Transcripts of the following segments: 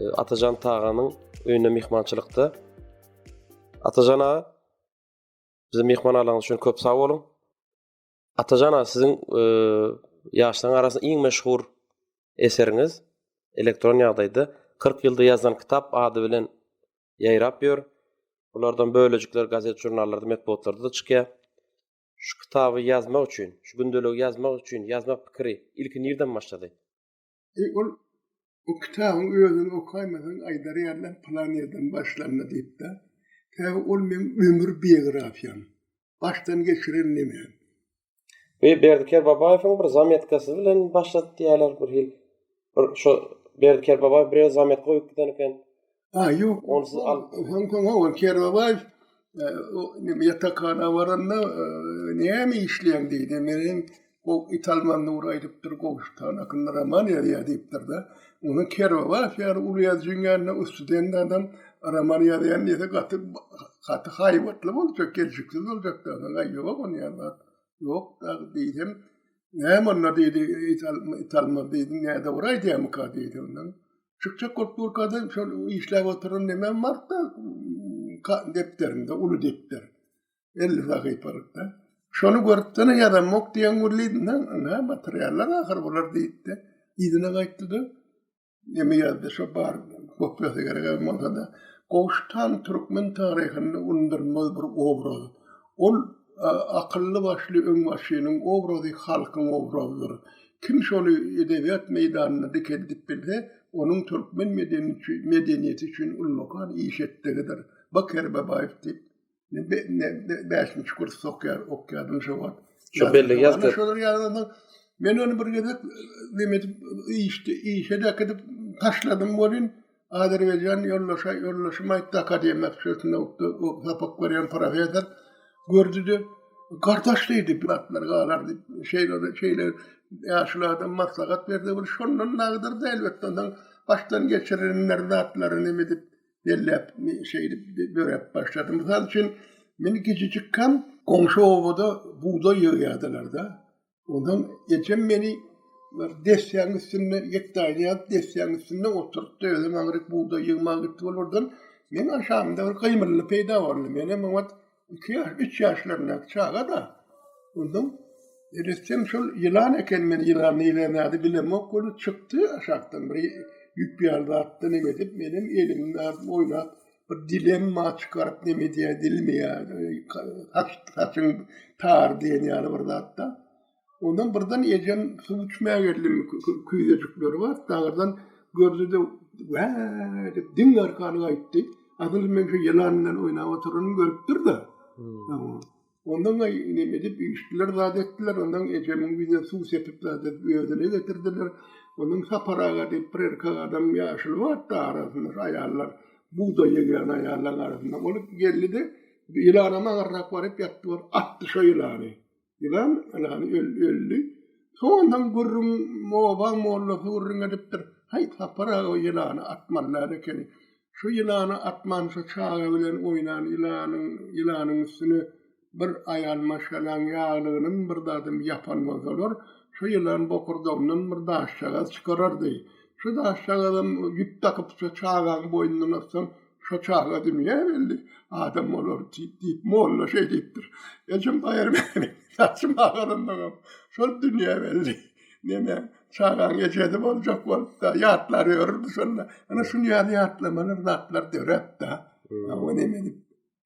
E, Atajan Taganyň öýüne mehmançylykda. Atajan aga, bizi mehman alaňyz üçin köp sag boluň. Atajan aga, siziň e, ýaşlaryň arasynda iň meşhur eseriňiz elektron ýagdaýda 40 ýylda ýazan kitap ady bilen ýaýrap ýör. Bulardan bölejikler gazet žurnallarda, metbugatlarda çykýar. Şu kitaby ýazmak üçin, şu gündeligi ýazmak üçin ýazmak pikiri ilki nirden başlady? Eý, ol o kitabyň özüni okaýmasaň aýdar ýaly plan ýerden başlanma diýipdir. Sebäbi ol meň ömür biografiýam. Başdan geçiren nemem. Bu Berdi Kerbabaýewiň bir zametkasy bilen başlady diýýärler bir hil. Bir şo Berdi Kerbabaýew birere zametka goýup giden eken. Ha, yok. Onsuz al. Soň soň ha ol Kerbabaýew e, o neme ýatakhana baranda e, näme işleýän diýdi. Men hem o Italman Nur aýdypdyr, Gowşutan akynda roman ýazýar diýipdir de. Onuň Kerbabaýew ýaly uly ýazyjyň ýanynda ustudenli adam roman ýazýan diýse gaty gaty haýbatly boljak, gelşiksiz boljak da. Aga ýok ony ýazmak. Ýok da diýdim. Näme onda diýdi, Italman diýdim, näde bir aýdýarmyka diýdi ondan. Çykjak bolup durkada şol işläp oturan nemem barda depderinde uly depder. 50 sahypalykda. Şony görüpdene ýazamok diýen gürlidinde, ana materiallar ahyr bular diýipdi. Ýüzüne gaýtdyda. Neme ýazdy şo bar kopýasy gerek bolsa-da. Gowşutan türkmen taryhynda unudylmaz bir obraz. Ol akylly başly öňbaşynyň obrazy halkyň obrazydyr. Kim şony edebiýat meýdanynda dikeldip bilse, onuň türkmen medeniýeti üçin ullakan iş etdigidir. Ba Kerbabaýew diýip, bäşinji kurs sokýar, okýardym şo wagt. Şo bellige ýazdyr. Men ony bir gezek neme edip, işe-de äkidip taşladym welin, Azerbaýjan ýoldaşa ýoldaşym aýtdy akademiýa şeýtnowtda sapak berýän professor gördüde gardaş diýdi bu zatlar galar diýip şeýle şeýle ýaşuly adam maslahat berdi bir şondan dagdyrdy elbetde ondan başdan geçirenler zatlaryny neme edip belläp şeýdip döräp başlady mysal üçin men gijijikkäm goňşy obada bugdaý ýygýardylarda Ondan ejem meni bir desýäň üstünde ýekdaýda ýat desýäň üstünde oturypdy. Özüm aňryk bugdaý ýygmaga gitdi bol birden. Men aşamda bir gymylly peýda boldy. Men hem oňat 2 ýaş, 3 ýaşlaryndaky çaga-da. Ondan eletsem şol ýylan eken, men ýylan nile nädi bilemok, ony çykdy aşakdan bir ýüp ýaly zatdan emedip, men hem elimi alyp oýnap, bir dilemma çykaryp neme diýýär dilmeýär haçyň tar diýen ýaly bir zatda ondan birden ejem suw içmä geldim küýzejikleri bar dagyrdan gördi de wä dip diň arkany gaýtdy adyl men şu ýylan bilen oýnap oturyny görüpdir da hmm. Ondan aý inem edip işdiler zat etdiler ondan ejemiň ýüzüne suw sepip zat edip özüne getirdiler. Ondan Sapar aga diýip bir erkek adam ýaşuly bardy arasynda şu aýallar bugdaý egýän aýallaryň arasynda ol geldi-de ýylana magarrak baryp ýatdy bor atdy şo ýylany. Ýylan ýylany öldi. Soňundan gürrüň obaň mollasy gürrüň edipdir. Haý Sapar aga o ýylany atmaly zat ekeni. Şu ýylana atmança çaga bilen oýnan ýylanyň ýylanyň üstüne bir aýal maşgalaň ýaglygynyň bir zadym ýapan bolsalar, şu ýylan bokurdagyndan bir daşjagaz çykarardy. Şu daşjagazam ýüp dakypça çagaň boýnundan atsaň, şo çaga dünýä geldi, adam bolar diýip, molla şeý diýipdir. Ejem Baýarmämmet saçymy agarandaňam şol dünýä geldi. Neneň? Çagaň ejesi boljak bolupda ýatlary örüp şonda. Ana şun ýaly ýatlamalar zatlar döräpdi. Ha o ne meni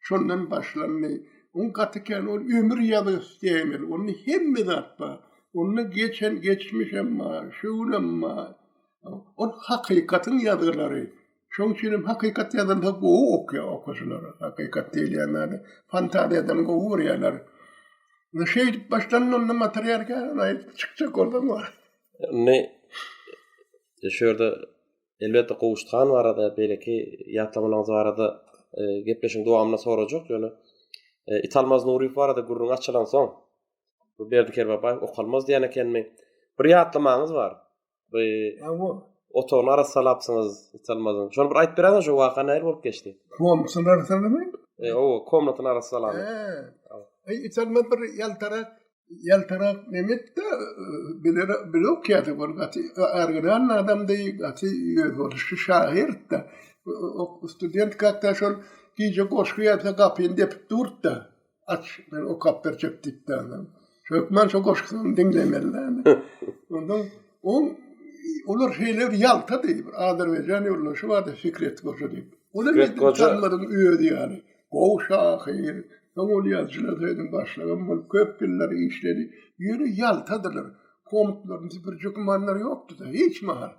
şondan başlandy. On gaty ken ol ömür ýaly isleýmeli. Onda hemme zat bar. Onda geçen geçmişem bar, şu günem bar. Ol hakykatyň ýazgylary. Şoň üçin hem hakykat ýazylsa gowy okýar okaýjylar. Hakykat diýilýän zady fantaziýadan gowy görýärler. Ne şeýdip başdan onda material kären aýdyp çykjak bolsa bar. Indi e, şu ýerde elbetde Gowşut han barada beýleki ýatlamalaryňyz barada e, gepleşiň dowamyna sorajak ýöne e, Italmaz Nuryýew barada gürrüň açylan soň bu Berdi Kerbabaýew okalmaz diýen ekenmi? Bir ýatlamaňyz bar. By Awa. Otagyny arassalapsyňyz, hiç almadyň. Şony bir aýdyp beräňiz, şu waka nähili bolup geçdi? Komnatyny arassalamy? E, o, komnatyny arassalamy? He. Aý, hiç almaz bir ýaltarak, ýaltarak nemetde biler, bile okýardy bol gaty. Orginal adamdy, gaty ýörelişli şahyrdy. Student kakda şol gije goşgy ýazsa gapyny depip durdy. Aç, ben okap berjek diýip däne. Türkmen şu goşgyny diňlemeli däne. Ondan on olar şeýle bir ýalta diýip, Azerbaýjan ýolunda şu wada Fikret Goja diýip. Ol hem Tanlaryň özi ýaly. Gowy şahyr, soň ol ýazyjylar söýüniň başlygam bolup köp ýyllar işledi. Ýöne ýaltadylar. Komtlaryny süpürjek ýokdy-da, hiç mahal.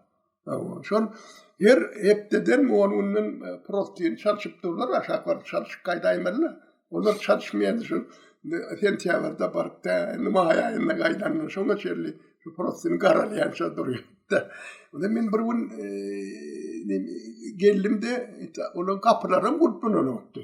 Şol her hepdeden on günden e, prostin çalşyp durlar, aşak baryp çalşyp gaýdaýmalylar. Olar çalşmaýardy şu sentýabrda baryp da, indi maý aýynda gaýdanlar. Şoňa çenli şu prostin garalýança durýardy. Onda men bir gün e, geldim de, olaryň gapylary gurplananokdy.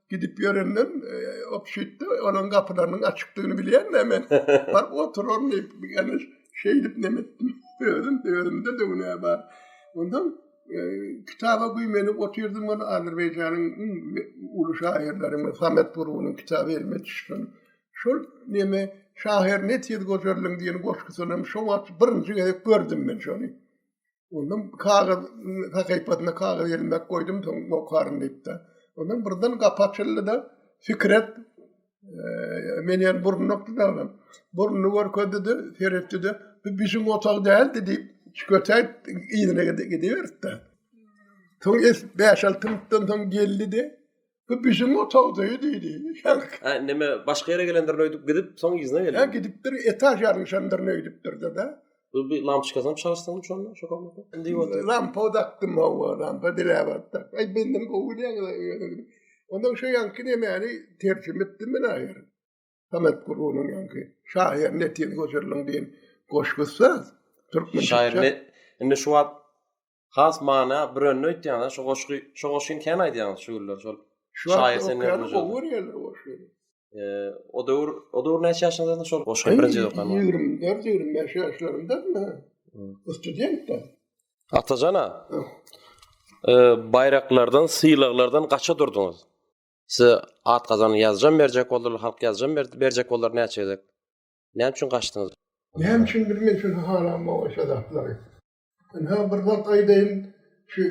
gidip ýörenden obşitde onuň gapylarynyň açykdygyny bilýän de men. Bar oturan diýip, ýani şeýdip neme etdim. Özüm özümde de günä bar. Ondan e, kitaba güýmenip otyrdym ony Azerbaýjanyň iň uly şaýyrlary Samet Burunyň kitaby elime düşdi. Şol neme şahyr ne tiz gözellin diýen goşgusyny şo wagt birinji gezek gördüm men şony. Ondan kagyz sahypasyna kagyz ýermek goýdum, soň okaryn diýipdi. Ondan birden gapa açyldy da Fikret men ýer burnukdy da olam. Burnu görkezdi de, seretdi de, bu biziň otag däldi diýip, çikotäp yzyna gidiberdi. Soň es 5-6 minutdan soň geldi de, Bu bizim otagdaýy diýdi. Ha, neme başga ýere gelendir öýdüp gidip, soň ýüzüne geldi. Ha, gidipdir, etaž ýaryşandyr öýdüpdir da. Bu bir lampçkasyny çalsaň şonda, şu komnata. Indi ýok. Lampa dakdym, hawa, lampa diläp atdy. Aý, menden gowy diýýäňiz. Ondan şu ýanky nemäni terjime etdim men aýyr. Samet Gurunyň ýanky. Şahyr Netin Goşurlyň diýen goşgusy. Türkmen şahyr. Indi şu wagt has mana brönni öýtýäňiz şu goşgy şu goşgyny kän aýdýaňyz şu günler şol şaýyr sen ýaly gowy görýärler goşgy o döwür o döwür näçe ýaşyňyzda şol goşgy birinji okan 24 25 ýaşlarymda studentda Atajana baýraklardan sylaglardan gaça durdyňyz size at gazan ýazjam berjek boldy halk ýazjam berjek boldy näçe gezek näme üçin gaçdyňyz näme üçin bilmeýän şu halam o şadaplary Ynha bir zat aýdaýyn, şu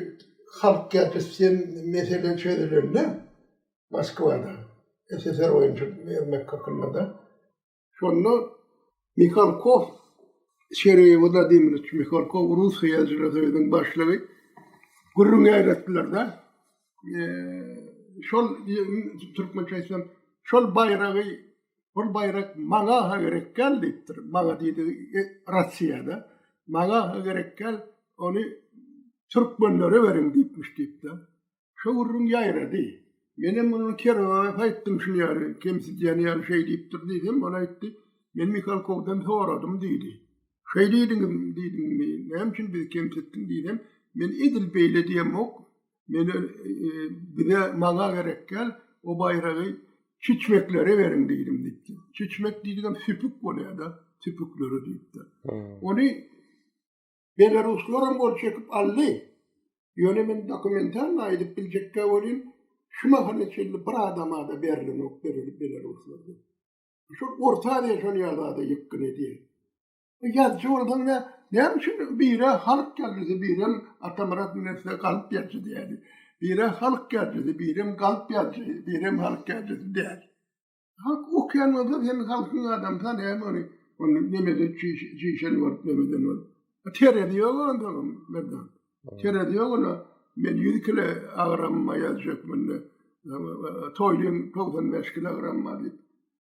halk gepleşýän mesele çözülende Moskwada, SSR boýunça bermek hakynda-da, şonda Mihalkow, Sergeý Wladimirowiç Mihalkow, Rus Syýasaçylar soýuzynyň başlygy gürrüň ýaýratdylar-da, şol türkmençe aýtsam şol baýragy bul baýrak maňa ha gerek gel diýipdir maňa diýdi e, rossiýada maňa ha gerek gel ony türkmenlere beriň diýipmiş diýipdi şo gürrüň ýaýrady men hem muny kerowa aýtdym şuny ýaly kemsidýän ýaly şeý diýipdir diýdim ol aýtdy men mihalkowdan soradym diýdi şeý diýdiňizmi diýdim näme üçin bizi kemsitdiň diýdim men edil beýle diýemok Meni bize maňa gerek däl, o baýragy çüçmeklere beriň diýdim diýipdir. Çüçmek diýdigem süpük bolýar-da, süpüklere diýipdir. Ony belaruslar hem gol çekip aldy. Ýöne men dokumentalny aýdyp biljekkä welin, şu mahala çenli bir adama-da berlenok berilip belaruslarda. Şol Orta Aziýa şol ýagdaýda ýykgyn edýär. Bu ýazyjy bolsaňda näme üçin bire halk ýazyjysy birem Atamyrat Münewwere galp ýazyjy diýýädi. Bire halk ýazyjysy birem galp ýazyjy birem halk ýazyjysy diýýädi. Halk okýan bolsa sen halkyň adamsa näme ony ony nemede çişen bolup nemeden bolup. Terezi ýok onda Merdan. Terezi ýok ola. Men ýüz kile agramma ýazjak munda. Toýlym togsan bäş kile agramma diýip.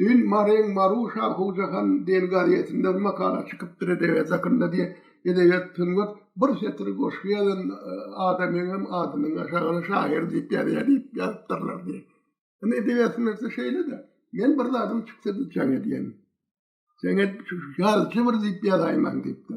Düýn Maryň Marusha Hujahan diýen gazetinden makala çykypdyr edebiýat hakynda diýe. Edebiýat, sungat bir setir goşgy ýazan adamyňam adynyň aşagyna şahyr diýip ýazýa diýip ýazypdyrlar diýe. Indi edebiýat sungatda şeýle-de. Men bir zadym çyksa-da jaň edýän. Jaň edip şu ýazyjymyr diýip ýazaýmaň diýip-de.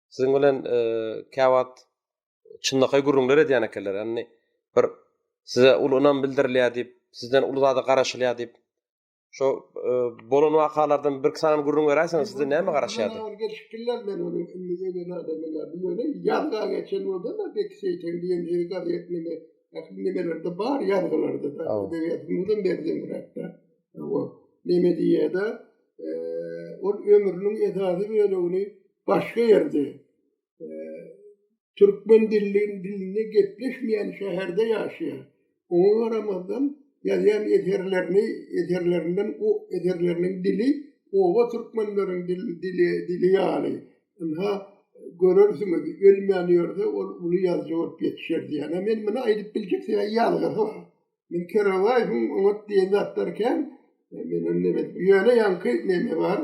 Siziň bilen e, käwagt çynlakaý gürrüňler edýän ekenler. Ýani bir size uly ynam bildirilýär diýip, sizden uly zada garaşylýar diýip. Şo e, bolan wakalardan bir sany gürrüň beräýseň, sizde näme garaşýardy? Ol gelip bilmez men ony indi öýe näde bilmez. Bu ýöne ýazga geçen bolsa da bek seýten diýen ýeri gazetinde ähli nimelerde bar ýazgylarda da. Edebiýatymyzda berdiň rakda. Hawa, neme diýýä-de, ol ömrüniň esasy bölegini başga ýerde, türkmen dilli dilinde gepleşmeýän şäherde ýaşaýar. Oňa garamazdan, ýazýan eserlerini, eserlerinden o eserleriniň dili oba türkmenleriň dili, dili ýaly. Ynha, görersiňiz, ölmän ýörse, ol uly ýazyjy bolup ýetişer diýýän. Men muny aýdyp biljek ýazgysyz. Men Keralaý, bu oňat diýen zatlar kän. Men indi bir ýöne ýaňky neme bar,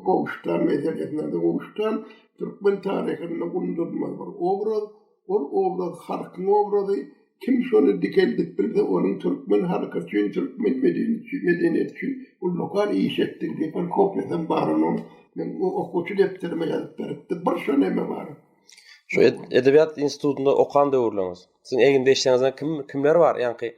gowuşdan meselesinde de gowuşdan türkmen taryhynda undurma bir obraz, ol obraz halkyň obrazy. Kim şony dikeldip bilse, onuň türkmen halky üçin, türkmen medeniýeti üçin ullakan iş etdi diýip bir kopiýasam bar onuň. Men okuwçy depderime ýazyp beripdim. Bir şo neme bar. Şu edebiýat institutynda okan döwürleriňiz? Siziň egnde işleňizden kim kimler bar ýaňky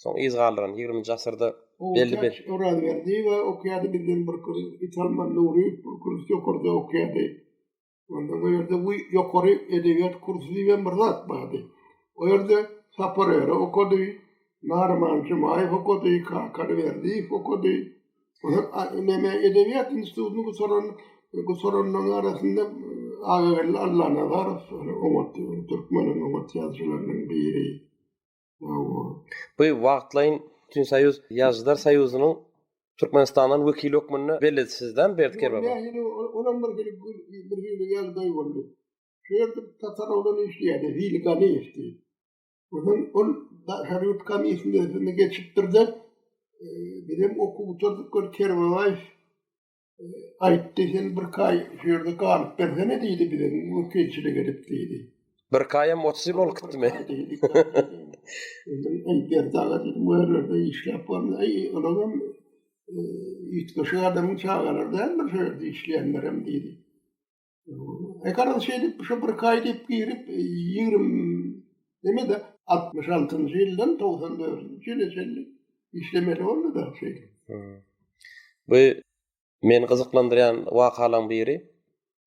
soň yz galdyran ýigriminji asyrda belli bir Orazberdiýewa okýady bizden bir gyz Italman Nuryýew bir kurs ýokarda okýady. Ondan o ýerde bu ýokary edebiýat kursy diýibem bir zat bardy. O ýerde Sapar Öre okady, Naryman Jumaýew okady, Kakar Berdiýew okady. Neme edebiýat institutyny gutaran gutaranlaryň arasynda Agageldi Allanazarow oňat türkmeniň oňat ýazyjylarynyň biri. Bu wagtlaýyn Bütünsoýuz Ýazyjylar soýuzynyň Türkmenistandan wekili hökmünde belledi sizde Berdi Kerbaba? Nähili olam bir hili bir hili ýagdaý boldy. Şu ýerde tatar oglan işleýärdi Hili Ganyýew diýip. Ondan ol Harut komisini özüne geçipdirdi. E, Bizem okuw gutardyk gör Kerbabaý e, aýtdy sen bir kaý şu ýerde galyp bersene diýdi bize wekilçilik edip diýdi. Bir kaýam otuzym bolup gitdimi? Ey berdaga dedim bu ýerlerde işläp bolmaz. Ey olam e, ýetmişi adamyň çagalary däldir şu ýerde işleýänlerem diýdi. Ekaryn şeýdip, şu bir kaý diýip girip, 20 neme de 66-njy ýyldan 94-nji ýyla çenli işlemeli boldy da şeýdip. Bu meni gyzyklandyrýan wakalaryň biri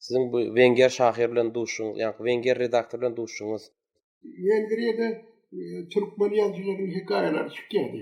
siziň bu wenger şahyr bilen duşuşyň, ýa-da wenger redaktor bilen duşuşyňyz. Wengriýada türkmen ýazyjylarynyň hekaýalary çykýardy.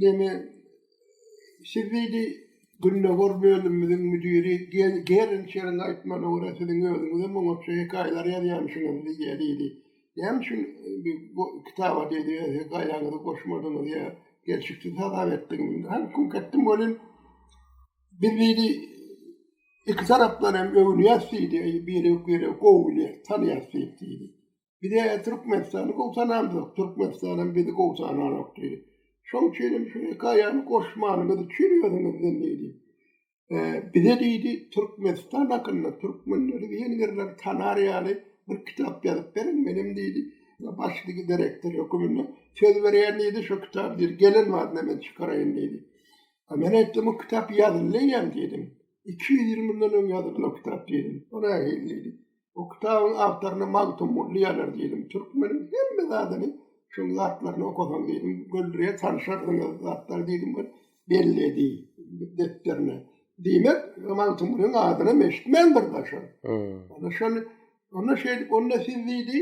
Ýene siz diýdi, gündogar bölümimiziň müdiri Gerinçeriň aýtmagyna görä, siziň özüňizem oňatja hekaýalar ýazýanmyşyňyz diýýär diýdi. Näme üçin bu kitaba diýdi, hekaýaňyzy goşmadyňyz ýa gelşiksiz hasap etdiňizmi? Hany kümk etdim welin, biz diýdi, iki tarapdan hem öwünýäs diýdi, biri-biri gowy bilýär, tanýas diýip diýdi. Bize Türkmenistany gowsanamdyk, Türkmenistanam bizi gowsananok diýdi. Şoň üçin hem şu hekaýany goşmanyňyz üçin özüňizden diýdi. Bize diýdi, Türkmenistan hakynda türkmenleri diýen ýerler tanar ýaly bir kitap ýazyp beriň, menem diýdi, başlygy direktor höküminde söz berýän diýdi, şu kitaby diýdi, gelen badyna men çykaraýyn diýdi. Men aýtdym, bu kitap ýazyldy eýýäm diýdim. Iki ýüz ýyl mundan öň ýazylan o kitap diýdim. O nähili diýdi. Bu kitabyň awtoryna Magtymguly ýazar diýdim. Türkmeniň hemme zadyny şol zatlaryny okasaň diýdim. Göldürýä tanşardyňyz zatlar diýdim. Belledi depderine. Diýmek, Magtymgulyň adyny meşitmändir daşa. Ana şol Onda şeýdip, onda siz diýdi,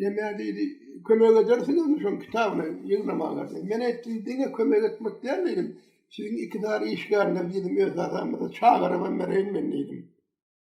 näme diýdi, kömek edersiňizmi şoň kitabyny ýygnamaga? Men aýtdym, diňe kömek etmek däl diýdim. Siziň iki dar işgäriňiz diýdim, öz adamyňyzy çagyryp hem bereýin men diýdim.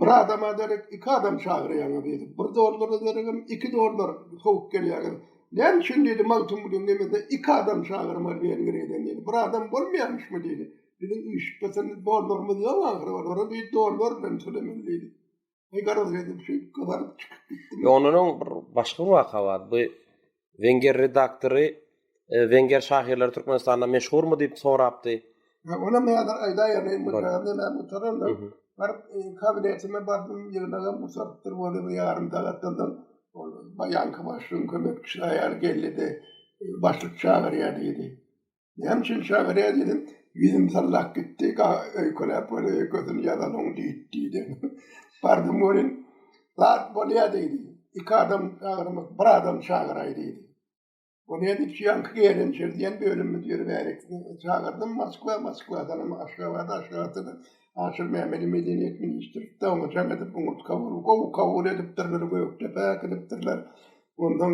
Bir adama derek iki adam çagyrýaňyz diýdim. Bir dollara deregem iki dollar sowup gelýäňiz. Näme üçin diýdi, Magtymgulyň demesine iki adam çagyrmaly Wengriýadan diýdi. Bir adam bolmaýamyşmy diýdi. Biziň üýşüpbeten dollarymyz ýok ahyry olara diýdi, dollar bilen tölemeli diýdi. Garaz edip şeýdip gyzaryp çykyp gitdim. Ýöne onuň bir başga bir waka bar. Bu Wenger redaktory e, Wenger şahyrlary Türkmenistanda meşhurmy diýip sorapdy. Ha, ona men häzir aýdaýan, men bu ýerde men utananda bir e, kabinetime bardym, ýygnagam usadypdyr bolu bir ýarym sagatdan soň ol baýanky başlygyň kömekçisi aýal geldi-de, e, başlyk çagyrýar diýdi. Näme üçin şagyra dedim. Ýüzüm sallap gitdi. Öýkeläp bolýar, öýkesini ýazalyň diýip diýdi. Bardym welin, zat bolýar diýdi. Iki adam çagyrmak, bir adam çagyraý diýdi. Bolýar diýip, ýaňky geýlençer diýen bölümimiz ýöri bärik. Çagyrdym Moskwa, Moskwadanam Aşgabada, Aşgabatdanam Aşyr Mämmedi medeniýet ministri daňyjaň edip, oňurtga berip, gowy kabul edipdirler, Gökdepe äkidipdirler. Ondan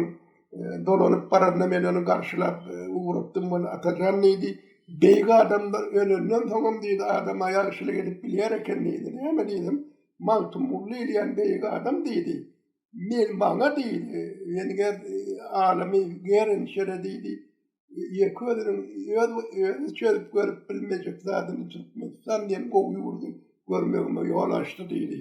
Dolanyp baranda men ony garşylap e, ugrukdym, Bol, Atajan diýdi. Beýik adamlar ölenden soňam diýdi, adama ýagşylyk edip bilýär eken diýdi. Näme diýdim? Magtymguly diýilýän beýik adam diýdi. Men maňa diýdi, Wengeer e, alymy Gerenşere diýdi, ýeke özüniň öz özi çözüp görüp bilmejek zadyny Türkmenistan diýen gowy ýurdy görmegime ýol açdy diýdi.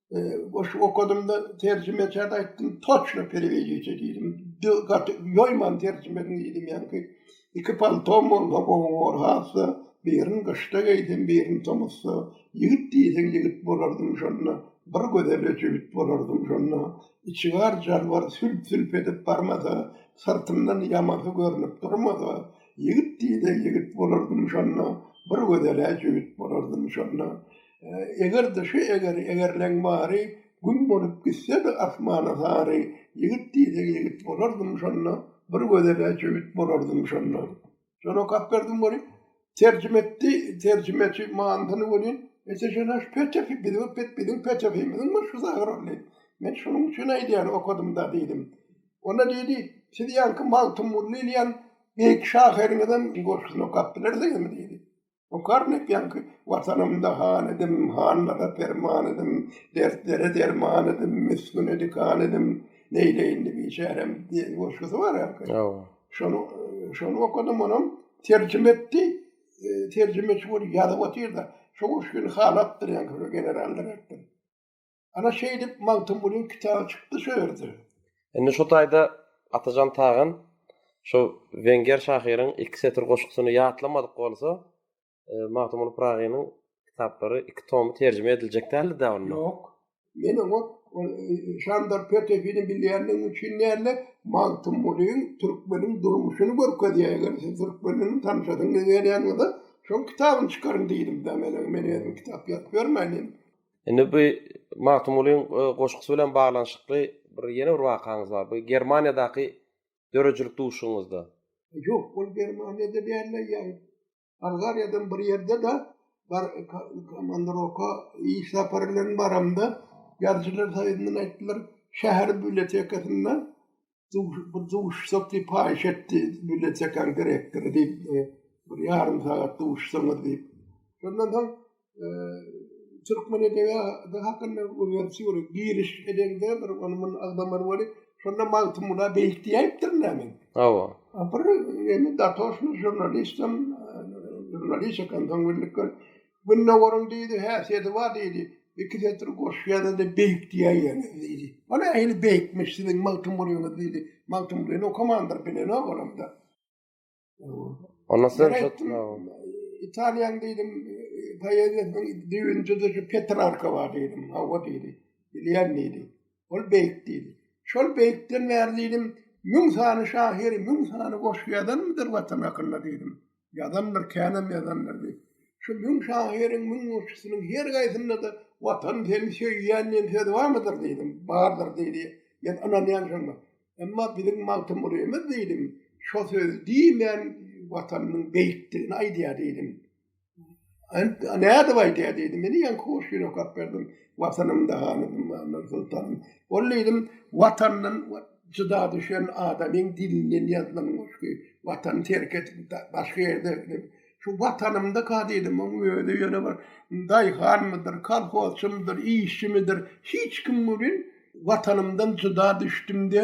Goşgy okadym-da, terjimeçä aýtdym, toçno perewediçi diýdim. Gaty ýoýman terjimediň diýdim, ýaňky iki paltom bolsa gowy bor, hassa birini gyşda geýsem, birini tomusda. Ýigit diýseň ýigit bolardym şonda, bir gözele jübüt bolardym şonda. Içigar jalbar sülp-sülp edip barmasa, syrtymdan ýamasy görnüp durmasa, ýigit diýseň ýigit bolardym şonda, bir gözele jübüt bolardym şonda. Eger-de şu egeri egerleň bary Gün bolup gitse-de asmana sary Ýigit diýseň ýigit bolardym şonda Bir gözele jübüt bolardym şonda. Şol okap berdim welin, terjime etdi terjimeçi manysyny welin, Ete jana şu petefi biziň pet biziň petefimiziň başgysy agyrarly. Men şonuň üçin aýdýan okadym-da diýdim. Onda diýdi, Siz ýaňky Magtymguly diýen beýik şahyrňyzyň goşgusyny okap bilersiňizmi diýdi. Bu karnek ýaňky Watanymda han edim, hanlara perman edim, dertlere derman edim, misgüne dikan edim, neýleýin-de biçärem diýen goşgusy bar ýaňky. Ýa-a. Şony, şony okadym, onam terjime etdi. E, terjimeçi bolup ýazyp otyr-da, şo goşgyny halapdyr ýaňky şo generallar aýtdy. Ana şeýdip Magtymgulyň kitaby çykdy şu ýerde. Indi şu taýda Atajan Tagan şu wenger şahyryň iki setir goşgusyny ýatlamadyk bolsa, Magtymguly Pyragynyň kitaplary iki tomy terjime ediljek däldi dä onda? Ýok. Men oňa ol Şandor Petefini bilýändigim üçin däl-de, Magtymgulyň türkmeniň durmuşyny görkezýär. Eger siz türkmen bilen tanyşasyňyz gelýän bolsa, şoň kitabyny çykaryň diýdim-dä men oňa. Men özüm kitap ýazyp ýörmäýin diýdim. Indi bu Magtymgulyň goşgusy bilen baglanyşykly bir ýene bir wakaňyz bar. Bu Germaniýadaky döredijilik duşuňyzda. Ýok, ol Germaniýada däl-de, ýagny Bolgariýadan bir ýerde-de bar komandirovka, iş sapary bilen baramda, Ýazyjylar soýuzyndan aýtdylar, şäher bibliotekasynda bir duşsak diýip paýyş etdi, millet çeker gerekdir diýip, e, bir ýarym sagat duşsaňyz diýip. Şondan soň e, türkmen edebiýaty hakynda öňürti bir giriş edende bir ony muny agdamar bolup, şonda Magtymguly beýik diýipdir näme? Hawa. A bir indi datoşny žurnalistim, e, žurnalist ekan, soň bildik Gündogaryň diýdi, häsiýeti bar diýdi. Iki setir goşgy ýaza-da beýikdiýäýýäňiz diýdi. O nähili beýikmiş siziň Magtymgulyňyz diýdi. Magtymgulyny okamandyr, bilenok olam-da. Onda siz Italiýanyň diýdim, poeziýasynyň düýbünde-de şu Petrarka bar diýdim. Hawa diýdi. Bilýän diýdi. Ol beýik diýdi. Şol beýikden bäri diýdim, müň sany şahyr, müň sany goşgy ýazanmydyr Watan hakynda diýdim. Ýazandyr, känem ýazandyr diýip. Şu müň şahyryň müň goşgusynyň her gaýsynda-da Watan seni söýýän diýen söz barmydyr diýdim. Bardyr diýdi. Men ynanýan şoňa. Emma biziň Magtymgulyýmiz diýdim, şo sözi diýmän Watanynyň beýikdigini aýdýar diýdim. Nädip aýdýar diýdim. Meni ýaňky hoş ýüre okap berdim. Watanymda hanydym, Mehmet Sultanym. Ol diýdim, watandan jyda düşen adamyň dilinden ýazylan goşgy. Watany terk edip, başga ýerde gidip, şu watanymda ka diýdim, oň özi ýöne bir daýhanmydyr, kolhozçymydyr, işçimidir, hiç kim welin, watanymdan jyda düşdüm-de,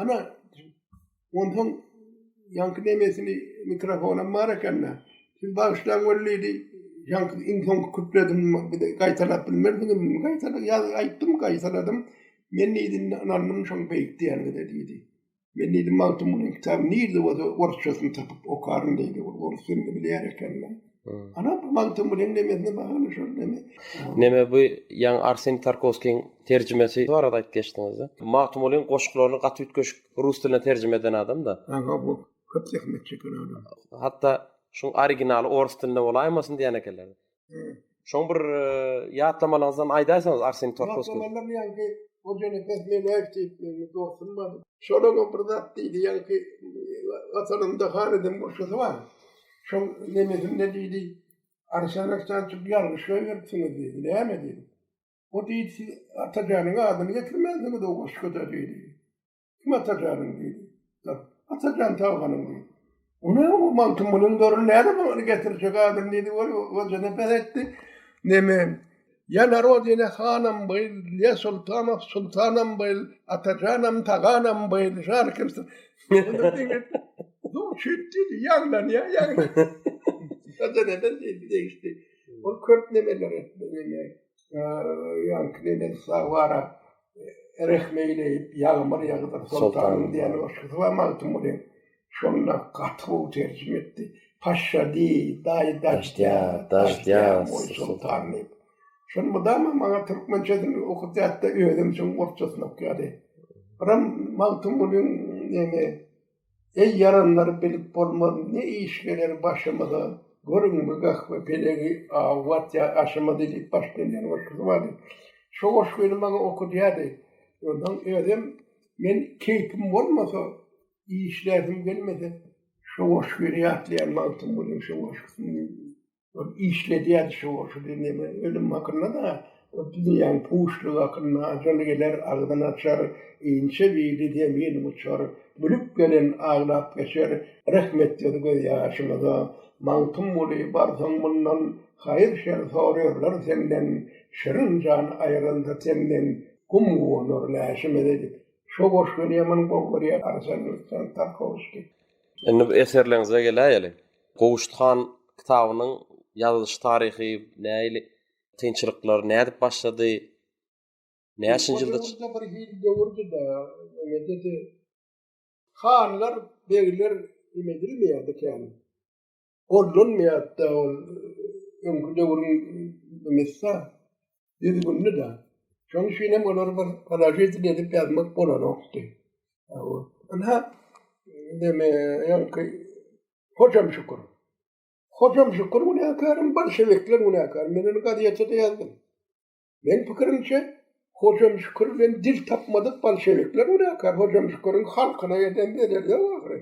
Ana, ondan ýaňky demesini mikrofonam bar ekende. Siz bagşydan görlidi. Ýaňky iň soň küpledim, bir de gaýtalap bilmerdim. Gaýtala ýaz aýtdym, gaýtaladym. Men diýdi, ynandym şoň beýik diýenine diýdi. Men diýdi, Magtymgulyň kitaby nirde bolsa, orsçasyny tapyp okaryn diýdi. Ol orsçasyny bilýär ekeni. Ana bu mantyň bilen nemesine baglanyşar deme. Neme bu ýaňy Arsen Tarkowskiň terjimesi barada aýdyp geçdiňizda. Magtymgulyň goşgularyny gaty üýtgeşik rus diline terjime eden adam-da. Aga bu köp zähmet çeken adam. Hatda şuň originaly orus dilinde bolaýmasyn diýen ekenler. Şoň bir ýatlamalaryňyzdan aýdaýsaňyz Arsen Tarkowskiň. Ýatlamalaryny ýaňky Şonuň bir zat diýdi ýaňky Watanymda han edem goşgusy bar. Şol nemesinde diýdi, Arslanaçdan çyk ýalňyş goýberipsiňiz diýdi. Näme diýdi? O diýdi, siz Atajanyň adyny getirmänsiňiz o goşguda diýdi. Kim Atajanyň diýdi. Dur, Atajan Tawganyň diýdi. O näme bu Magtymgulyň dörüni nädip ony getirjek adyny diýdi, ol özüne bes etdi. Neme? Ýa narod ýene hanam byl, ýa sultanow sultanam byl, atajanam taganam byl, şany kimsiň. Onda diňe Dur şüýt diýdi, ýaňlanýar, ýaňlanýar. Onda neden diýdi, degişdi. Ol köp nemeler etdi, ýaňky neneň sag bara. rehmeýleýip ýagmyr ýagdyr soltanym diýen goşgusy bar Magtymgulyň. Şonda gaty gowy terjime etdi. Paşşadi, daýy daždýa, daždýa, moý soltan diýip. Şony mydama maňa türkmençesini okatýardy-da, özem şoň orsçasyny okýardy. Biram Magtymgulyň neme. Eý ýaranlar bilip bolmaz ne iş geler başymyza Görüňmi gahwe pelegi aw watýar aşymyzy diýip baş döneýän goşgusy bardy. Şo goşgyny maňa okudýardy. Onsoň özem men keýpim bolmasa işläsim gelmese şo goşgyny ýatlaýan wagtym bolar şo goşgusyny. O işledýär şu, şu dünýäme ölüm hakynda-da, o dünýäň puşlygy hakynda, ajal geler, agzyn açar, inçe bili zemin uçar, gülüp gelen aglap geçer, rehmet ýüz göz ýaşymyza, Magtymguly, barsaň mundan, haýyr-şer sorarlar senden, şirin jan aýryldy senden, gum guwanar läşimize diýip, şo goşgyny ýaman gowy görýär Arsen Luisýan Tarkowskiý. Indi bu eserleriňize geläýeli. Gowşut han kitabynyň ýazylyş taryhy nähili? Kynçylyklar nädip başlady? Näçinji ýylda? Ýurdumyzda bir hili döwür juda nämedir-de, hanlar, begler emedilmeýärdi kän. Gollanmaýardy-da ol öňki döwrüň düzgünli de. Şonuň üçin hem olar bir polojit edip ýazmak bolanokdy. Ynha, deme, ýaňky, hocam şükür. Hocam şükür günäkärem, bolşewikler günäkär. Men onu gazetede ýazdym. Men pikirimçe, hocam şükür bilen dil tapmadyk bolşewikler günäkär. Hocam şükürüň halkyna eden bedeli ýok ahyry.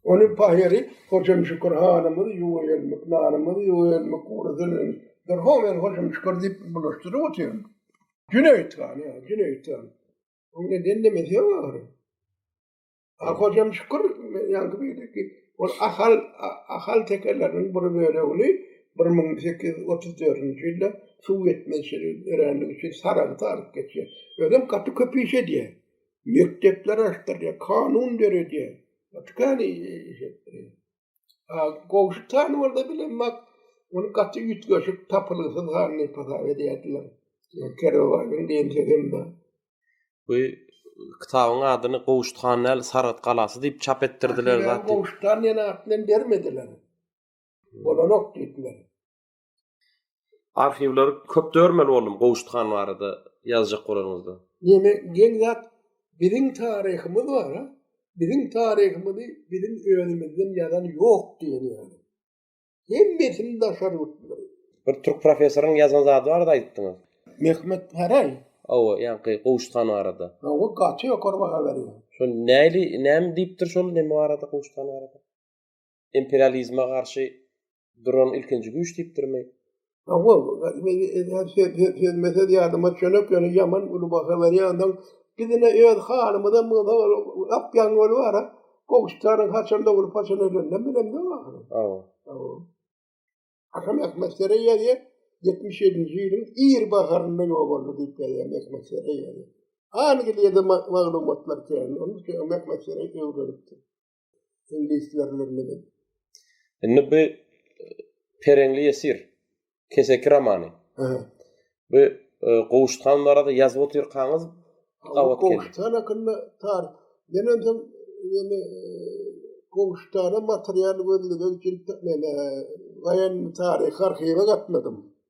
Onuň pahyry Hojem Şükür hanymyz ýuwelmik nanymyz, ýuwelmik guradynyň bir ho men Hojem Şükür diýip bulaşdyryp otyryn. Jüneýit han, ýa, Jüneýit han. Onuň indi indemesi ýok ahyry. A Hojem Şükür ýaňky beýleki ol Ahal Ahal tekeleriniň bir bölegini bir müň sekiz ýüz otuz dördünji ýylda suw ýetmezçilik öränligi üçin Saragta alyp geçýär. Özem gaty köp iş edýär. mekdepler açdyrýar, kanun döredýär. Ýöne goňşy tanymalda bilen bak, ony gaty üýtgeşik, tapylgysyz halynda hasap edýärdiler. Kerwebaýyň diýen sözem bar. Bu kitabyň adyny Gowşut han däl, Saragt galasy diýip çap etdirdiler zat. Gowşut han diýen at bilen bermediler. Bolanok diýdiler. Arhiwleri köp dörmeli boldum Gowşut han barada ýazjak bolanyňyzda. Ýene geň zat biziň taryhymyz bar a, biziň taryhymyzy biziň özümizden ýazan ýok diýen ýaly. Hemmesini daşary ýurtlylar ýazýar. Bir türk professoryň ýazan zady barada aýdypdyňyz. Mehmet Päräý? Hawa, ýaňky Gowşut han barada. Hawa, gaty ýokary baha berýär. Şol näli, näme diýipdir şol neme barada Gowşut han barada? Imperializme garşy Duran ilkinji güýç diýipdirmi? Hawa, sözme söz ýadyma çönek, ýöne ýaman uly baha berýändiň. Biz ine öz hanymyza mygza gapýan göl bar-a, gowşutaryň haçan doglup, haçan öleninden bilemzok ahyry. Hawa. Hawa. Atam Mehmetsere ýazýar, ýetmiş ýedinji ýylyň ir baharynda ýok boldy diýip ýazýar Mehmetsere ýazýar. Angliýada maglumatlar kän, onuň üçin Mehmetsere öwrenipdir. Ingilislerlerle. Indi bu Pereňli Ýesir keseki romany. Bu e, Gowuşhan barada ýazyp otyrkaňyz gawat geldi. Gowuşhan hakynda tar. Men özüm ýene Gowuşhana material gözlemek üçin men e, gaýan taryh arhiwe gatnadym.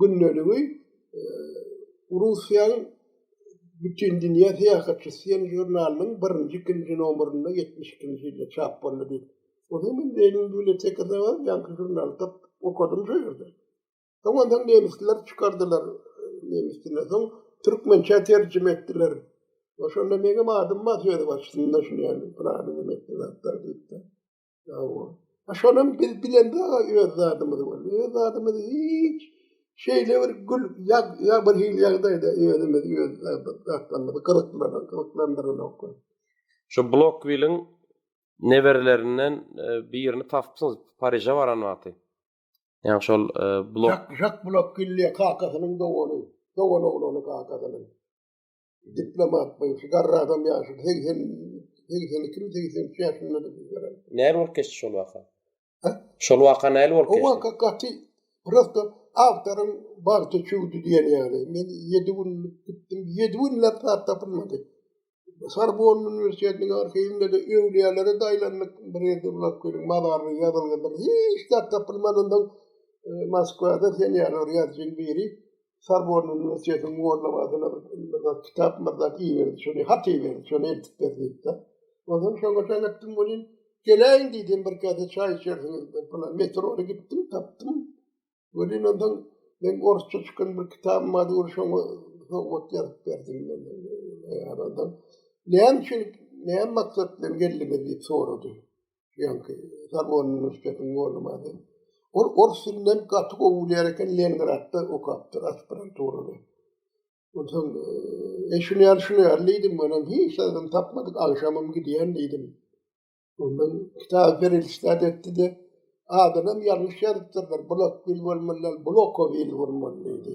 gündeligiň Russiýanyň Bütindünýä syýahatçysy diýen žurnalynyň birinji, ikinji nomerinde ýetmiş ikinji ýylda çap boldy diýip. Ony men Lenin bibliotekasynda bar, ýaňky žurnaly tapyp okadym şo ýerde. Soňam soň nemisler çykardylar, nemis diline soň türkmençä terjime etdiler. Şonda meňem adym bar söz başynda şuny ýaly, pylany diýip. Hawa. Şonam biz bilende öz zadymyz boldy. Öz zadymyz hiç şeýle bir gül ya ya bir hil ýagdaýda özümiz öz zatlarymyzy gyzyklandyryp gyzyklandyranok. Şu Blokwiliň neberelerinden e, birini tapypsyňyz Pariže baran wagty. Ýa şol e, Blok Jak Blok Killi kakasynyň dogany, dogan oglany kakasynyň. diplomat bu garra adam ýaşy segsen segsen iki segsen üç ýaşynda näl bolup geçdi şol waka şol waka näl bolup geçdi o waka gaty prosto awtoryň bagty çüwdi diýen ýaly men ýedi gün gitdim ýedi gün laptop tapylmady Sorbon uniwersitetiniň arhiwinde de öwlüýälere daýlandyk bir ýerde bulap gelin mazarly ýazylgydyr hiç zat tapylmanyndan e, Moskwada sen ýaly bir ýazyjyň biri Sorbonne uniwersitetiniň mugallymady bir bir kitap myrdak iberdi şony hat iberdi şony eltip ber diýipdi. Ondan şoňa çak etdim muny geleýin diýdim bir kase çaý içersiňiz bir pula metrony gitdim tapdym. Welin ondan men orsça çykan bir kitabym bar dur şoňa sowgat ýazyp berdim men. Näme üçin näme maksat bilen geldiňiz diýip sorady. Ýanki Zabon uniwersitetiniň golumady. Ol ors dilini gaty gowy bilýär eken, Leningradda okapdyr aspiranturany. Onsoň, e, şuny ýaly, şuny ýaly diýdim, onam hiç adam tapmadyk, agşamam gidýän diýdim. Ondan kitap berilişdä etdi-de, adynam ýalňyş ýazypdyrlar, Bulakbil bolmaly däl, Bulakowil bolmaly diýdi.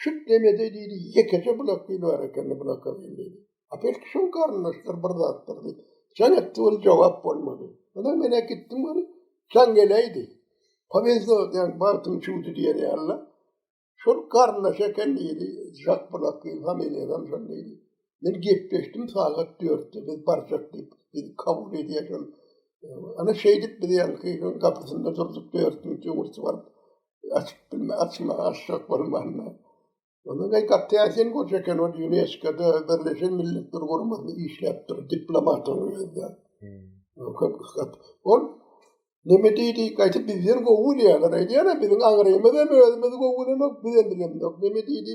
Şut demede diýdi, ýekeje bulak bil bar ekeni bulaka bil diýdi. Apek şu garyndaşlar bir zatdyr diýdi. Sen etdi ol jogap bolmady. Ondan men gitdim ol sen geleýdi. Powezdo diýen bagtym çuwdy diýen ýaly. Şol garyndaş eken diýdi. Şak bulak bil familiýam şol diýdi. Men gepleşdim sagat 4-de biz barjak diýip. Biz kabul edýäşem. Ana şeýdip biz ýaňky gapysynda durduk 4-nji gurty baryp. Açyp bilme, açma, açsak bolmanda. Onda ne gaty ýaşyn goç eken o UNESCO-da Birleşen Milletler Guramasynda işläp dur, diplomat bolýarda. Köp kysgat. Ol neme diýdi, gaýta bizden gowy bilýärler, aýdýarlar, biziň aňrymyz hem özümiz gowy bilenok, biz hem bilemzok. Neme diýdi?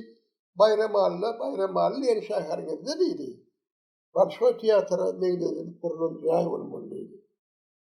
Baýram Alla, Baýram Alla diýen şäheriňizde diýdi. Bolşoý teatra meňzedilip gurlan jaý bolmaly diýdi.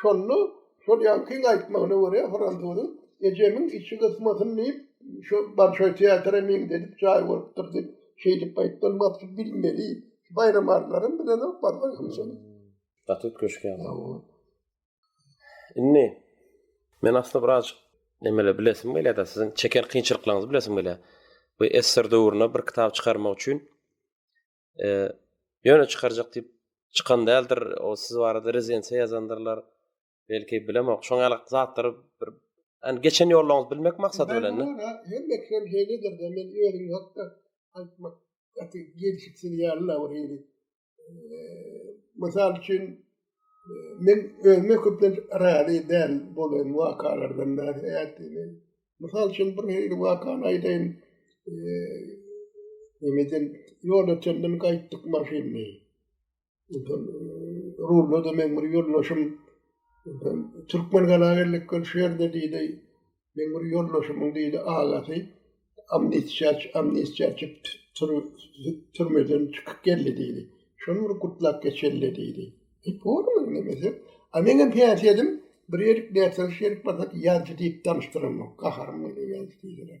Şonda şol ýaňkyň aýtmagyna görä, fransuzyň Ejemiň içi gysmasyn diýip, şo Bolşoý teatra meňzedip jaý bolupdyr diýip, şeýdip gaýtdan basyp bilmeli. Baýram alylaram bilenok, barsaň hem şony. Gaty üýtgeşikýa bu. Indi men aslynda birazjyk nemele bilesim gelýär-de, siziň çeken kynçylyklaryňyzy bilesim gelýär. Bu esser döwründe bir kitap çykarmak üçin E, ýöne çykarjak diýip çykan däldir. O siz barada rezidensiýa ýazandyrlar. Belki bilemok. Şoň ýaly zatlary bir Yani geçen ýoluňyzy bilmek maksady bilen. Ben hem ekrem heledir de men özüm hakda aýtmak gaty gelişiksiz ýaly la bir hili. Mysal üçin men özüme köplenç razy däl bolan wakalardan bäri ätini. Mysal üçin bir hili wakany aýdaýyn. Öňeden ýol ötenden gaýtdyk maşynly. Rulda da men bir ýoldaşym Türkmen gala geldik gör şu ýerde diýdi. Meň bir ýoldaşymyň biri agasy amnistiýa türmeden çykyp geldi diýdi. Şony bir gutlap geçeli diýdi. E, bormy indi näme? A men hem päs edim, bir ýerik nätse şerik bolsa ýazjy diýip danşdyramok. Gaharym gelýär ýazjy diýseler.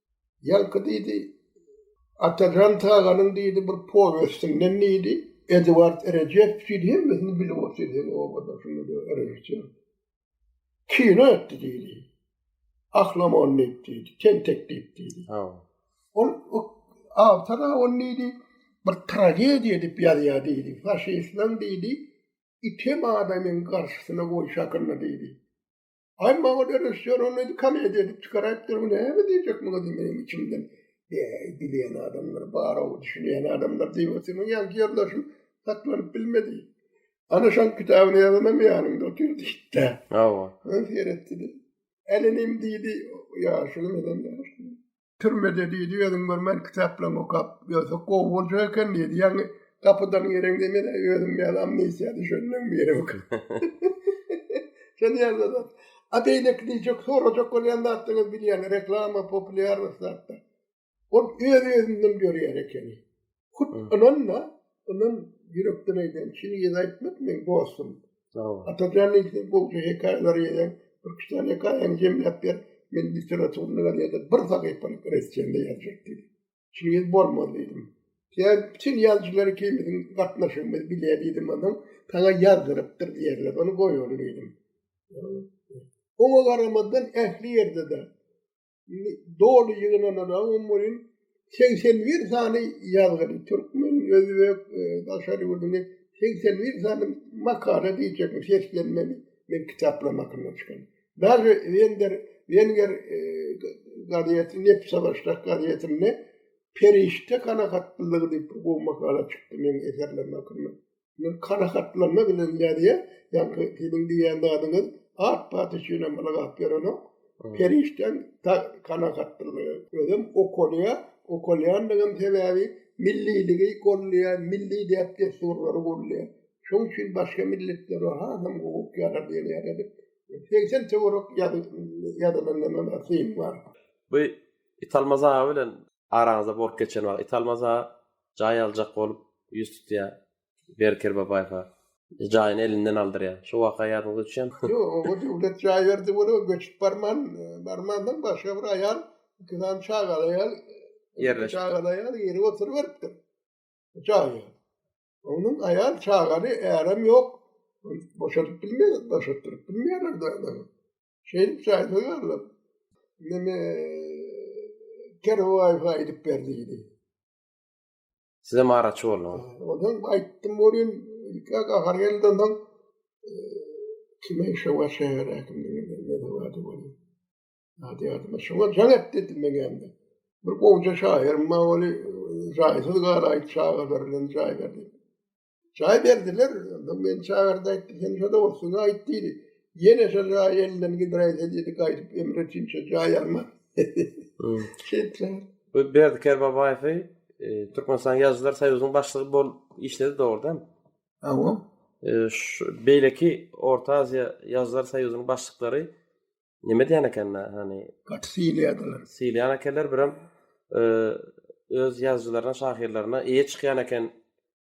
Ýaňky diýdi, Atajan Taganyň diýdi bir powestinden diýdi, Eduard Rejepow diýdi, hemmesini bilip otyr sen obada şuňada režissýor. Kino etdi diýdi. Ahlam on diýip diýdi, tentek diýip diýdi. Ol awtora on diýdi, bir tragediýa edip ýazýar diýdi. Faşistler diýdi, item adamyň garşysyna goýşakynda diýdi. Ay maňa da rejissýor ony edi komediýa edip çykaraýypdyr bu näme diýjek muňa diýip meniň içimden eý dileýän adamlar bar-ow düşünýän adamlar diýip otyrdym ýa ýoldaşym saklanyp bilmedi. Ana şoň kitabyny ýazanam ýanymda otyr diýipdi. Hawa. Ony seretdi-de. Älinim diýdi ýaşuly menden ýaşuly. Türmede diýdi, özüň bir men kitaplaryňy okap ýörsek gowy boljak eken diýdi. Ýagny gapydan gireňde men özüm ýaly amnesiýa düşenden biri ok. Sen ýaly zat. A beýleki diýjek, sorajak bolýan zatlaryňyz bilýän reklama, populýarnost zatlar. Ol öz-özünden ýörýän ekeni. Hut ynanma, inan ýürekden aýdan, şini ýene aýtmak men dostum. Atajan ýene bu hekaýalary ýene bir kiçan hekaýany jemläp ber, men literaturyny ýene bir sahypalyk resçende ýazjak diýdi. Şini ýene bolmaz diýdim. Ýa sen ýazyjylar ikimiziň gatnaşygymyzy bilýä diýdim onda, saňa ýazdyrypdyr diýerler, ony goýaly diýdim. Oňa garamazdan ähli ýerde-de doly ýygnananam welin segsen bir sany ýazgyny türkmen, özbek, daşary ýurduny segsen bir sany makala diýjekmi seslenmeli men kitaplaryň hakynda çykan. Daže wender wenger gazeti nepse başlak gazetinde perişde kanagatlylygy diýip gowy makala çykdy meniň eserlerim hakynda. Men kanagatlanma bilen ýazýan, ýagny seniň diýýän zadyňyz at-bat üçin hem ylgap ýörenok. Perişdeň kanagatlanma, özem okalýar, okalýandygyň sebäbi milliligi gollaýar, milli däp-dessurlary gollaýar. Şonuň üçin başga milletleri hasam gowuk ýazar diýen ýaly edip, segsen töwerek ýazylan emem syn bar. Bu Italmaz aga bilen araňyzda bolup geçen wagt it almasa jaý aljak bolup ýüz tutýar Berker Babaýewa jaýyny elinden aldyrýar şo waka ýadyňyza düşýärmi? Ýok oňa döwlet jaý berdi ol göçüp barman barmandan başga bir aýal iki sany çagaly aýal ýerleşip çagaly aýal girip oturyp beripdir jaýa onuň aýal çagaly ärem ýok boşadyp bilmeýär boşatdyryp bilmeýärler Şeýdip çaýda ýalyp, meni Kerwaýfa aýdyp ber diýdi. Sizem araçy bolduňyz. Ondan aýtdym bolýan, ilki gahar geldi ondan kime işe var şehir hakimliği ne de vardı bolýa. Hadi adyma şoňa jaň et dedim men hem de. Bir gowja şaýyrym bar boli, jaýsyz galayt çagalar bilen jaý berdi. Çaý berdiler, ondan men çagyrdy aýtdy, sen şo dogrusyny aýt diýdi. Ýene şol jaý elinden gidiräýse diýdi, gaýdyp Emre üçinçe jaý alma. Şeýtler. Bu Berdi Kerbabaýewi e, Türkmenistan Ýazyjylar soýuzynyň başlygy bolup işledi dogrudan. Awa. E, şu beýleki Orta Aziýa Ýazyjylar soýuzynyň başlyklary Nime diýen ekenler, hani gaty silýärdiler. Silýän ekenler birem e, öz ýazyjylaryna, şahyrlaryna eýe çykýan eken.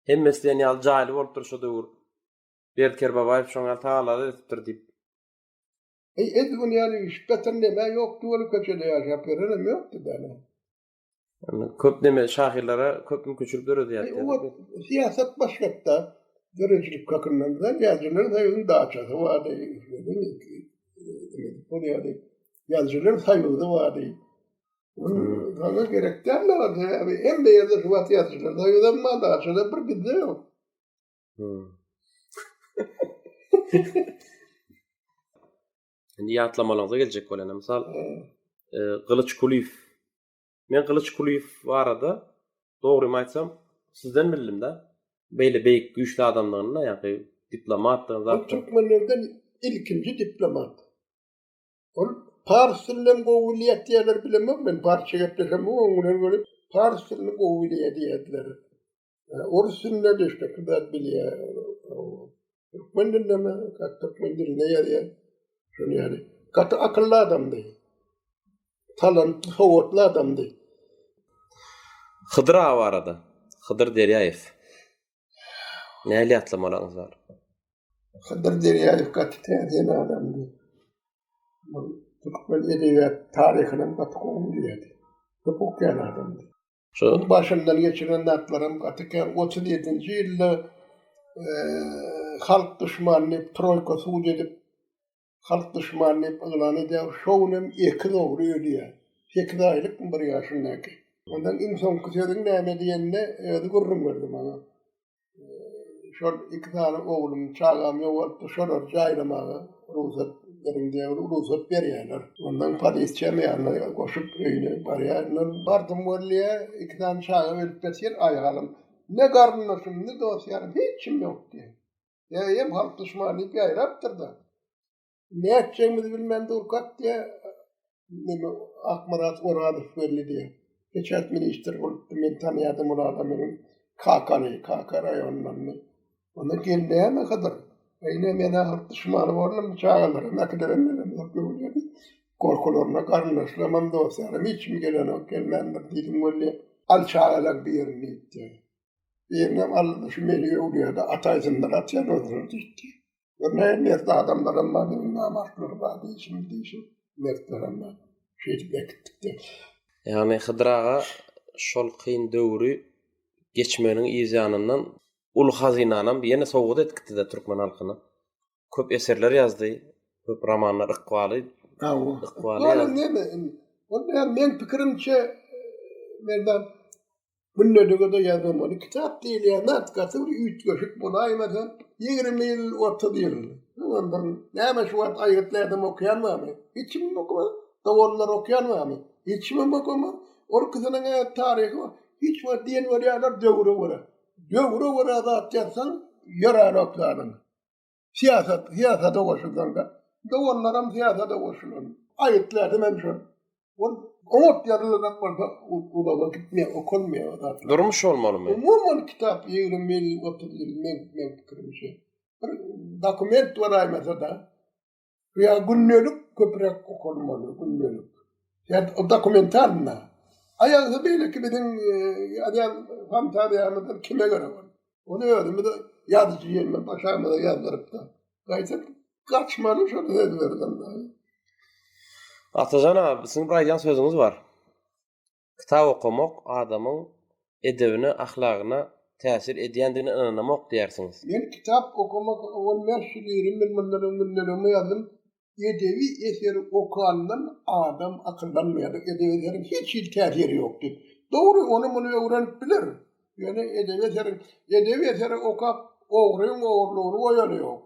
Hemmesi diýen ýaly jaýly bolupdyr şu döwür. Berdi Kerbabaýew şoň ýaly tagallary edipdir diýip. Eý, edil gün ýaly üýşüp ýatan neme ýokdy, ol köçede ýaşap ýörenem ýokdy däne. Köp neme şahyrlara köp mümkinçilik döredýär. Siýasat başgatda döredijilik hakyndan da ýazyjylar saýyň daçasy bardy. Bolýardy. Ýazyjylar saýygy bardy. Bana gerek däl de bardy. Abi hem de ýerde şu wagt ýazyjylar saýygy hem bardy. Daçada bir gizli ýok. Indi ýatlamalaryňyza geljek bolanda, mysal, e, Gylyç Kulyýew. Men Gylyç Kulyýew barada dogry aýtsam, sizden bildim-de. Beýle beýik güýçli adamdygyny, ýa-da diplomatdygyny zaten. Türkmenlerden ilkinji diplomat. Ol pars dilini hem gowy bilýär diýerler, bilemok men, parsça gepleşen bu öňler gelip, pars dilini gowy bilýär diýerdiler. Orus dilinde de işte kızlar bilýä. Türkmen dilinde mi? Türkmen dilinde ýazýa. Şunu ýaly. Gaty akylly adamdy. Talantly, sowatly adamdy. Hydyr awa arada. Hydyr Derýaýew. Näli ýatlamalaryňyz bar? Hydyr Derýaýew gaty täzeýen adamdy. Türkmen edebiýat taryhyny gaty gowy bilýärdi. Köp okaýan adamdy. Şonuň başyndan geçiren zatlaram gaty kän. Otuz ýedinji ýylda halk duşmany diýip troýka sud edip, halk duşmany diýip yglan edýär. Şo günem ekiz ogly ölýär. Sekiz aýlykmy bir ýaşyndaky. Ondan iň soňky sözüň näme diýende özi gürrüň berdi maňa. şol iki sany oglum, çagam ýogalypdy, şolary jaýlamaga rugsat beriň diýip, rugsat berýärler. Ondan polisiýa ýanyna goşup öýüne barýarlar. Bardym wallýa, iki sany çaga berip berseler aýagalym, ne garyndaşym, ne dost-ýarym, hiç kim ýok diýýär. Ýa eýýäm halk duşmany diýip ýaýrapdyr-da. Ne etjegimizi bilmän durkak diýe, meni Akmyrat Orazow belli diýe. Peçat ministr bolupdy, men tanýardym ol adamy, meniň kakamy, kaka raýonyndandy. Onda gelneýäme kadar. Eýne men ahyr düşmany boldum bu çagalara, mäkilerem bilemok ýöne. Gorkularyna garyndaşlarymam, dostlarym hiç kim gelenok, gelmändir diýdim weli. Al çagalar birini diýipdi. Birinem aldy şu meni öwlüýärdi, ataýsynlar atýan ozüne diýipdi. Ve ne mert adamlarım var, ne namartlarım var deyişim, deyişim. Mertlerim var. Şeýdip ekitdik de. Yani Hydyr aga şol kyn döwri geçmeginiň yz ýanyndan uly hazynanam ýene sowgat edip gitdi-de türkmen halkyna. Köp eserler ýazdy, köp romanlar, ykbaly, Hawa. ykbaly Ýa ýazdy. neme indi. Onda hem meň pikirimçe, Merdan, Munda dögede ýazylmaly kitap diýilýän zat gaty bir üýtgeşik bolaýmasa, ýigrimi ýyl, otuz ýyl. Ondan näme şu wagt aýgytly adam okaýan barmy? Hiç kim okamaz. Doganlar okaýan barmy? Hiç kimem okamaz. Ol kişiniň taryhy bar. Hiç wagt diýen bolýarlar döwre görä. Döwre görä zat ýazsaň, ýörär oklaryň. Syýasat, syýasada goşulsaňda, doganlaram syýasada goşulan. Aýytlardy men şol. Ol oňat ýazylyrak bolsa, uzaga gitmeýär, okalmaýar o zatlar. Durmuş bolmalymy? Umuman kitap ýygrym ýyl, otuz ýyl, men, men pikirimçe. Bir dokument bolaýmasa-da, ýa gündelik köpräk okalmaly gündelik ýa dokumentalna aýagda beýleki biziň ýazýan fantaziýamyzdyr kime görä bol ony özümiz ýazyjy ýeňňe başamyza ýazdyrypda gaýta gaçmaly şol sözlerden Atajan aga siziň bir aýdýan sözüňiz bar. Kitap okamak adamyň edebine, ahlagyna täsir edýändigine ynanamok diýersiňiz. Men kitap okamak bolmaýan şu birin men mundan öň günlememe ýazdym, Edebi eseri okandan adam akyllanmaýar, edebi eseriň hiç hili täsiri ýok diýip. Dogry, ony-muny öwrenip biler, ýöne edebi eseriň, edebi eseri okap ogryň ogurlygyny goýany ýok.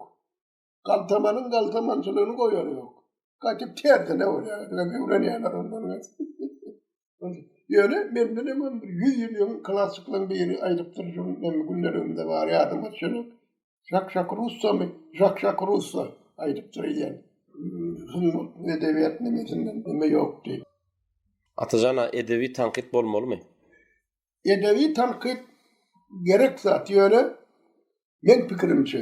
Galtamanyň galtamançylygyny goýar ýok. Gaty tersine bolýar. Gaty öwrenýärler ondan. Ýöne menden hem bir 100 ýyl öň klassyklaryň biri aýdypdyr, şu men günler öňde bar ýadyma düşen. Şak şak russamy? Şak şak russa aýdypdyr ýen. Sungat edebiýat nemesinden neme ýokdy. Atajan-a edebi tankyt bolmalymy? edebi tankyt gerek zat ýöne meň pikirimçe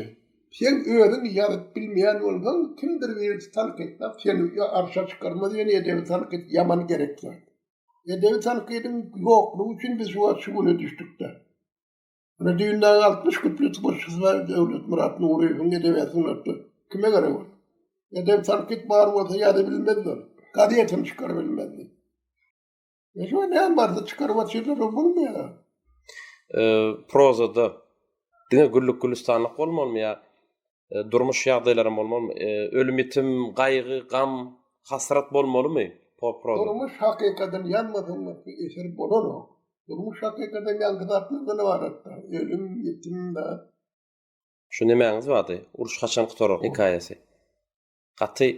sen özüň ýazyp bilmeýän bolsaň kimdir birisi tankytlap seni arşa çykarmaz ýöne edebi tankyt ýaman gerek zat. Edebi tankydyň ýoklugy üçin biz şu wagt şu güne düşdükde. Ine düýndäki altmyş küplü tworçestvo bar Döwletmyrat Nuryýewiň edebiýat sungatda kime gerek ol. Edebi tankyt bar bolsa ýazybilmezdi ol. Gazetini çykarybilmezdi. E şu ne barda çykaryp atýarlar o bolmaýar. E, prozada diňe güllük gülistanlyk bolmalymy ýa e, durmuş ýagdaýlarym bolmalymy? E, ölüm ýitim, gaýgy, gam, hasrat bolmalymy? Proza. Durmuş hakykatyny ýazmasaň bu eser bolanok. Durmuş hakykatyny ýalňyz atmazdan ibaratda. Ölüm, ýitim da. Şu nemäňiz bardy? Uruş haçan gutarar hekaýasy? Gaty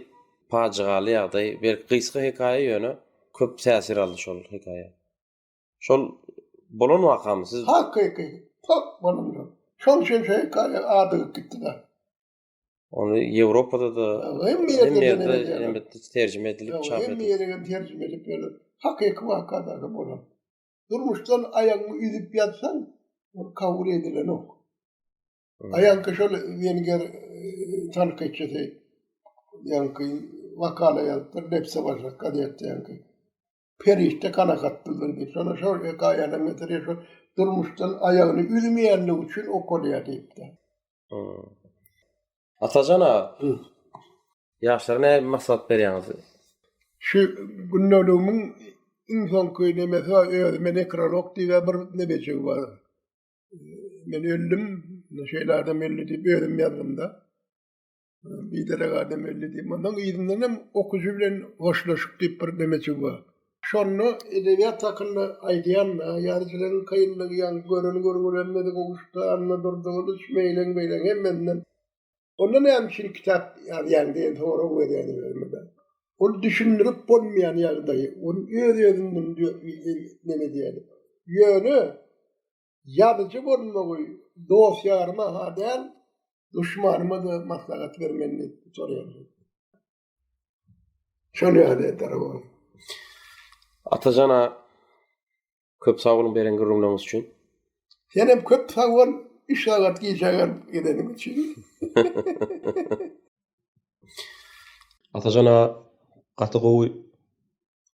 pajygaly ýagdaý berk gysga hekaýa ýöne köp täsir aldy şol hekaýa. Şol bolan wakamy siz. Hakyky. Pok bolan ýok. Şol üçin şu hekaýa adygyp gitdida. Ony Ýewropada da Hemme ýerde ýene ýerde ýene elbetde terjime edilip çap edildi. Hemme ýere hem terjime edip berler. Hakyky waka dagy bolan. Durmuşdan aýagyňy üzüp ýatsaň, ol kabul edilenok. Aýanky şol wenger tankytçysy ýanky wakala ýazypdyr Nepse başak gazetdeňki. Perişde kanakatlydyr diýip. Şola şol hekaýanyň metri şu durmuşdan aýagyny üzmeýänligi üçin okalýar diýipdi. Atajan aga. Ýaşlara näme maslahat berýäňiz? Şu gündeligimiň iň soňky nemesi bar, özüme nekrolog diýip bir nebejigi bar. men öldüm, şeýle adam öldi diýip özüm ýazdymda. Bir derek adam öldi diýip, ondan yzyndan hem okyjy bilen hoşlaşyk diýip bir demeçi bar. Şonda edebiýat hakynda aýdýan, ýazyjylaryň kynlygy, ýa göreni görgülenmedi, gowuşda, anna durdy, gylyç, meýleň, beýleň, hemmesinden Onda näme üçin kitap ýazýan diýen sorag berýän özüme. Ol düşündirip bolmaýan ýagdaý. Ol öz-özünden näme diýýär. Ýöne ýazyjy bolmagy dost-ýaryma ha däl, duşmanyma-da maslahat bermeli diýip soraýarlar. Şöyle yani eder ama. Atacana köp sağ olun beren gürrüňleriniz üçin. Sen hem köp sag ol, üç sagat gecegen gidenim üçin. Atacana gaty gowy,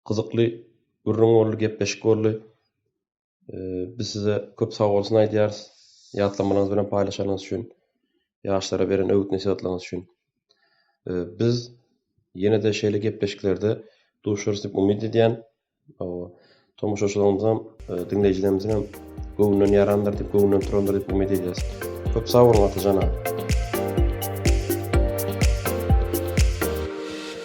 gyzykly gürrüň boldy, gepleşik boldy. Biz size köp sag bolsun aýdýarys. Ýatlamalaryňyz bilen paýlaşanyňyz üçin, ýaşlara beren öwüt-nesihatlaryňyz üçin. Biz ýene-de şeýle gepleşiklerde duşarys diýip umyt edýän. Tomaşaçylarymyzyň, e, diňleýjilerimiziň hem göwnünden ýarandyr diýip, göwnünden turandyr diýip umyt edýäris. Köp sag boluň Atajan aga.